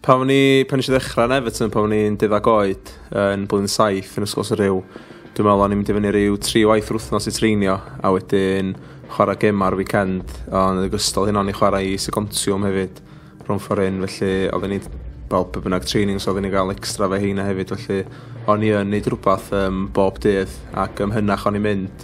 Pan o'n i, pan eisiau ddechrau yn Everton, pan o'n i'n deuddag oed, yn blwyddyn saith yn ysgol Syriw, dwi'n meddwl o'n i'n mynd i fyny rhyw tri waith yr wythnos i treinio, a wedyn chwarae gemau ar weekend, ond yn ogystal hyn o'n i chwarae i Segontiwm hefyd, rhwng ffordd hyn, felly oedd ni, fel pe bynnag training, so oedden ni gael extra fe heina hefyd, felly o'n i yn neud rhywbeth um, bob dydd, ac ymhynach o'n i'n mynd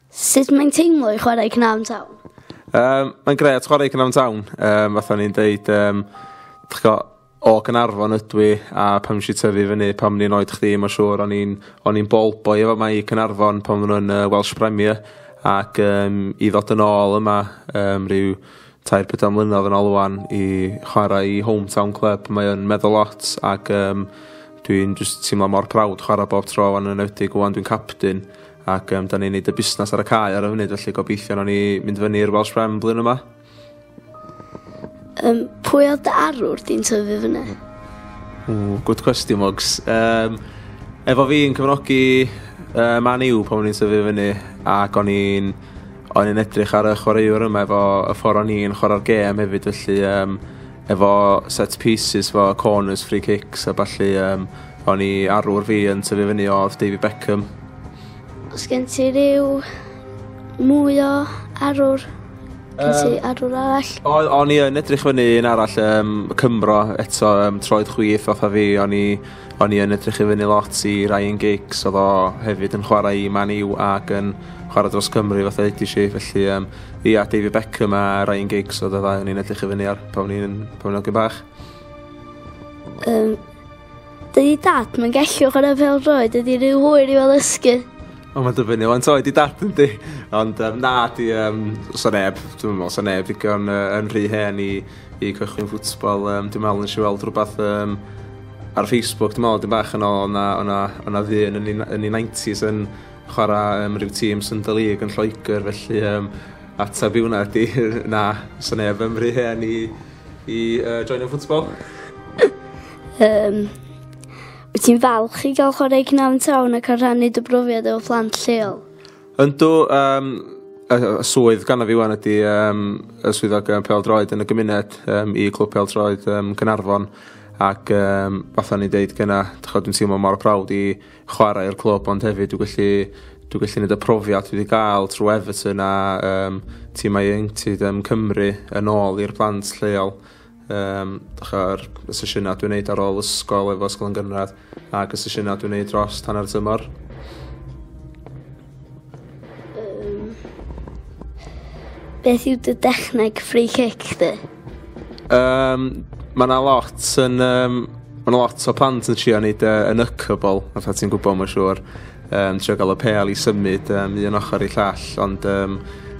Sut mae'n teimlo i chwarae Cnafn Town? Um, mae'n gret chwarae Cnafn Town. Um, fatha ni'n deud, um, o Gynarfon ydw i a pam nes i tyfu fyny pam ni'n oed chdi mae'n siŵr o'n i'n o'n i'n bol boi efo mae i Cynarfon pan nhw'n yn uh, Welsh Premier ac um, i ddod yn ôl yma um, rhyw tair pedwar mlynedd yn ôl wan i chwarae i hometown club mae o'n meddwl lot ac um, dwi'n just teimlo mor prawd chwarae bob tro yn enwedig wan dwi'n captain ac yym 'dan ni'n neud y busnas ar y cae ar y funud felly gobeithio nawn ni mynd fyny i'r Welsh Rem blwyddyn yma. Yym pwy oedd dy arwr di'n tyfu fyny? Ww, good question, Mugs. Um, efo fi yn cyfnogi uh, Man U pan o'n i'n tyfu fyny ac o'n i'n o'n i'n edrych ar y chwaraewr yma efo y ffordd o'n i'n chwarae'r gêm hefyd felly um, efo set pieces efo corners, free kicks a ballu um, o'n i arwr fi yn tyfu fyny oedd David Beckham Os gen ti ryw mwy o arwr, gen ti um, arwr arall? O, o'n i yn edrych fyny un arall, um, Cymro, eto, um, troed chwith fatha fi, o'n i, on i yn edrych i fyny lot i Ryan Giggs, oedd o hefyd yn chwarae i Man U ac yn chwarae dros Cymru fatha ydy si, felly um, ia, David Beckham a Ryan Giggs oedd y ddau o'n i'n edrych i fyny ar pan o'n i'n bach. Um, Dydy dad yn gellu chwarae fel droed, dydy rhyw hwyr i fel ysgu. O, mae'n dyfynnu o'n toed i dad yn di. Ond um, na, di, um, so neb, dwi'n meddwl, so neb ddigon uh, yn rhy hen i, i cychwyn ffwtsbol. Um, dwi'n meddwl nes i weld rhywbeth um, ar Facebook, dwi'n meddwl, dim bach yn ôl, o'na, o'na, o'na ddyn yn ei 90s yn chwarae um, rhyw tîm Sunday League yn Lloegr, felly um, ateb i hwnna di, na, so neb yn rhy hen i, i uh, join y ffwtsbol. Yym wyt ti'n falch i ga'l chware i Cnafon Town ac yn rhannu dy brofiad efo plant lleol? Yndw yym y y y swydd ganddo fi ŵan ydi yym y swyddog yym pêl-droed yn y gymuned yym i Clwb Pêl-droed yym Caernarfon ac yym fatha o'n i'n deud gynna' dych ch'od dwi'n teimlo mor proud i chwarae i'r clwb ond hefyd dwi gallu dwi gallu neud y profiad dwi 'di ga'l trw Everton a yym timau ieuenctid yym Cymru yn ôl i'r plant lleol. Um, Dychar y sesiynau dwi'n neud ar ôl ysgol efo ysgol yn gynradd ac y sesiynau dwi'n neud dros tan ar tymor. Um, beth yw dy dechneg free kick di? Um, mae yna lot yn... Um, mae yna lot o plant yn trio neud uh, yn y cybl, fatha ti'n gwybod mae'n siŵr. Yn trio gael y pêl i symud um, un ochr i llall, ond um,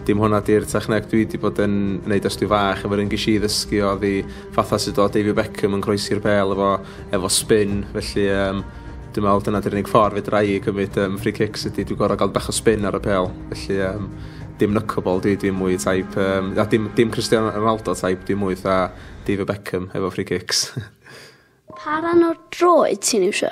dim hwnna di'r techneg dwi wedi bod yn wneud ers dwi fach, efo'r un gysi i ddysgu o ddi fatha sydd o David Beckham yn croesi'r pêl efo, efo spin, felly um, dwi'n meddwl dyna di'r unig ffordd fe drai i gymryd um, free kicks ydy dwi'n gorau gael bach o spin ar y pêl, felly um, dim knuckleball dwi, dwi'n mwy taip, um, a dim, dim Cristiano Ronaldo taip, dwi'n mwy tha David Beckham efo free kicks. Pa ran o'r droed ti'n iwsio?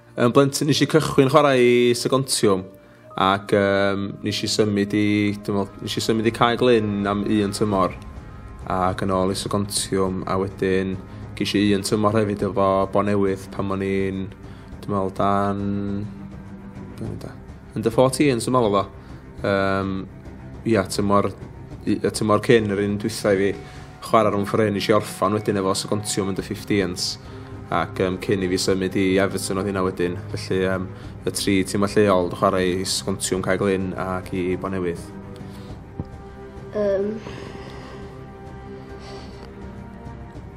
Yn blentyn nes i cychwyn chwarae i Sygontiwm ac um, nes i symud i, meddwl, nes i symud i Cae Glyn am un tymor ac yn ôl i Sygontiwm a wedyn ges i un tymor hefyd efo Bon Newydd pan o'n i'n, dwi'n meddwl, dan... Dwi'n meddwl, Yn dy ffot i yn symol o fo. Um, ia, tymor, y tymor cyn yr un dwytha i fi chwarae rhwng ffryn nes i orffan wedyn efo Sogontiwm yn dy 15s ac um, cyn i fi symud i Everton oedd hynna wedyn. Felly um, y tri tîm a lleol yn chwarae i Sogontiwm Cae Glyn ac i Bonewydd. Um,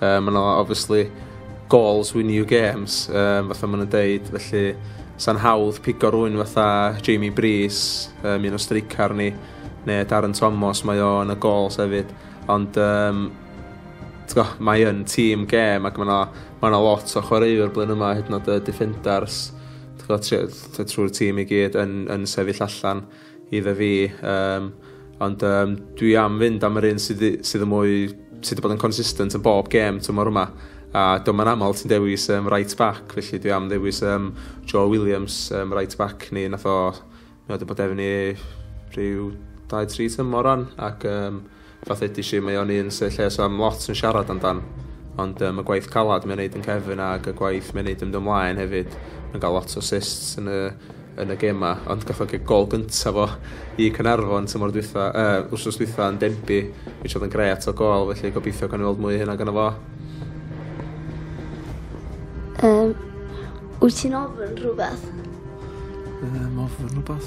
Uh, mae yna obviously goals win you games, um, fatha maen nhw'n deud, felly sa'n hawdd pigo rwy'n fatha Jamie Brees, um, un o streicar ni, neu Darren Thomas, mae o yn y gols hefyd, ond um, go, mae yn tîm gêm ac mae yna ma lot o chwaraewr blyn yma, hyd yn oed y defenders, trwy'r tîm i gyd yn, yn sefyll allan. iddo fi um, ond um, dwi am fynd am yr un sydd, sydd yn mwy sydd wedi bod yn consistent yn bob gêm tymor yma a dyma yn aml ti'n dewis um, right back felly dwi am ddewis um, Joe Williams um, right back ni nath o mi oedd wedi bod efni rhyw 2-3 tymor ran ac um, Fath edesh i mae o'n un sy lle so am lot yn siarad amdan ond yym y gwaith calad mae'n neud yn cefn ag y gwaith mae'n neud yn dy mlaen hefyd mae'n ga'l lot o assists yn y yn y gema ond gath o gig gol gynta fo i Cynarfon tymor dwytha uh, wrsos dwytha yn Denby mi oedd yn gret o gol felly gobeithio gan weld mwy hynna gyda fo Um, wyt ti'n ofyn rhywbeth? Um, ofyn rhywbeth?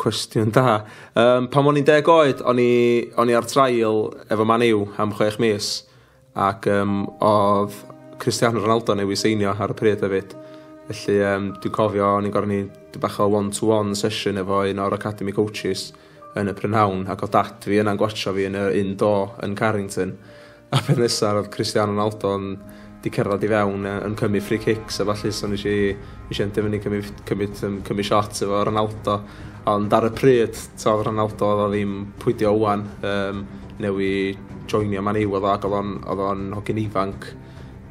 Cwestiwn da. Yym, pan o'n i'n deg oed, o'n i, o'n i ar trail efo Man U am chwech mis, ac um, oedd Cristiano Ronaldo neu i seinio ar y pryd hefyd. Felly, um, dwi'n cofio, o'n i'n gorau ni bach o one-to-one -one session efo un o'r Academy Coaches yn y prynhawn, ac oedd dad fi yna'n gwachio fi yn y un do yn Carrington. A peth nesa ro'dd Cristiano Ronaldo'n 'di cerddad i fewn yy yn cymryd free kicks a ballu so nesh i nesh i endio fynny cymryd cymryd yym cymryd shots efo Ronaldo ond ar y pryd t'od Ronaldo odd o ddim pwy 'di o ŵan yym newy joinio Man U odd o ag odd o'n odd o'n hogyn ifanc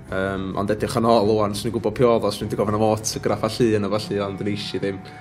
yym ond edrych yn ôl ŵan swn i'n gwbo pwy odd o swn i 'di gofyn am autograph a llun a ballu ond nesh i ddim.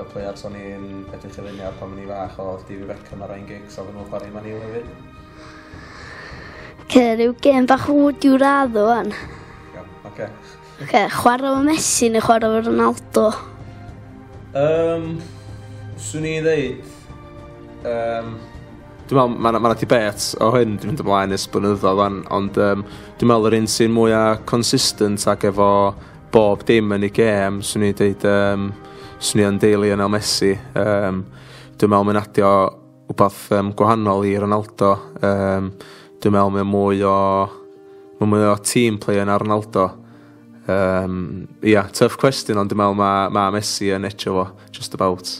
Y players o'n i'n edrych i fyny ar pan o'n i'n fach oedd David Beckham a Ryan Giggs oedden nhw'n chwarae i Man U hefyd. Oce, rhyw gêm bach wd i'w radd o fan. Iawn, oce. Oce, chwarae fo Messi neu chwarae fo Ronaldo? Um, swn i ddeud... Um, Dwi'n meddwl, mae yna ma ti bet o hyn dwi'n mynd ymlaen ys blynyddo fan, ond um, dwi'n meddwl yr un sy'n mwyaf consistent ac efo Bob dim yn ei gêm, swn i'n deud, um, swn i'n deulu yn El Messi. Um, dwi'n meddwl mae'n adio wbath um, gwahanol i Ronaldo. Um, dwi'n meddwl mae'n mwy o... Mae'n mwy o team play yn Ronaldo. Um, yeah, tough question, ond dwi'n meddwl mae ma Messi yn echo fo, just about.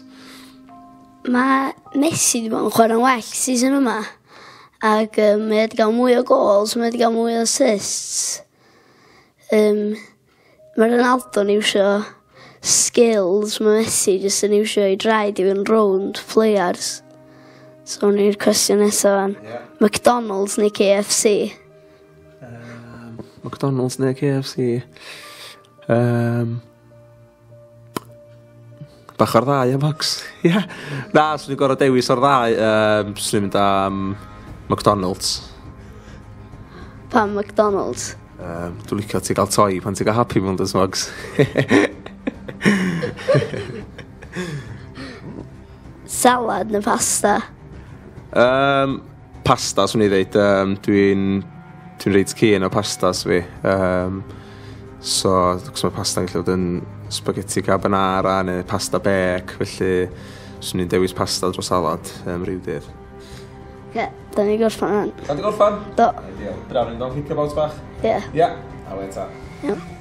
Mae Messi wedi bod yn chwarae'n well season yma. Ac um, mae wedi cael mwy o goals, mae wedi cael mwy o assists. Yym ma' Ronaldo'n iwsio skills ma' Messi jyst yn iwsio 'i draed i fynd rownd players. So awn ni'r cwestiwn nesa ŵan. Ia. McDonalds neu Kay Eff See? Yym McDonalds ne' Kay Eff See? Yym. Bach o'r ddau am Fox. Ia. Na, swn i'n gorfod dewis o'r ddau. Um, swn i'n mynd am McDonald's. Pam McDonald's? Um, dwi'n licio ti gael toi pan ti'n cael happy mewn dys Fox. Salad neu pasta? Um, Pasta, swn i ddeud. Um, dwi'n dwi reit cyn o pastas fi. Um, so, cos mae pasta'n gallu bod yn spaghetti carbonara neu pasta bec, felly swn i'n dewis pasta dros salad um, rhyw dydd. Ie, yeah, da ni gorffan rhan. Da ni gorffan? Do. Ideal. Braf ni'n dod kick about bach? Ie. Yeah. Ie. Yeah. Awe ta. Ie. Yeah.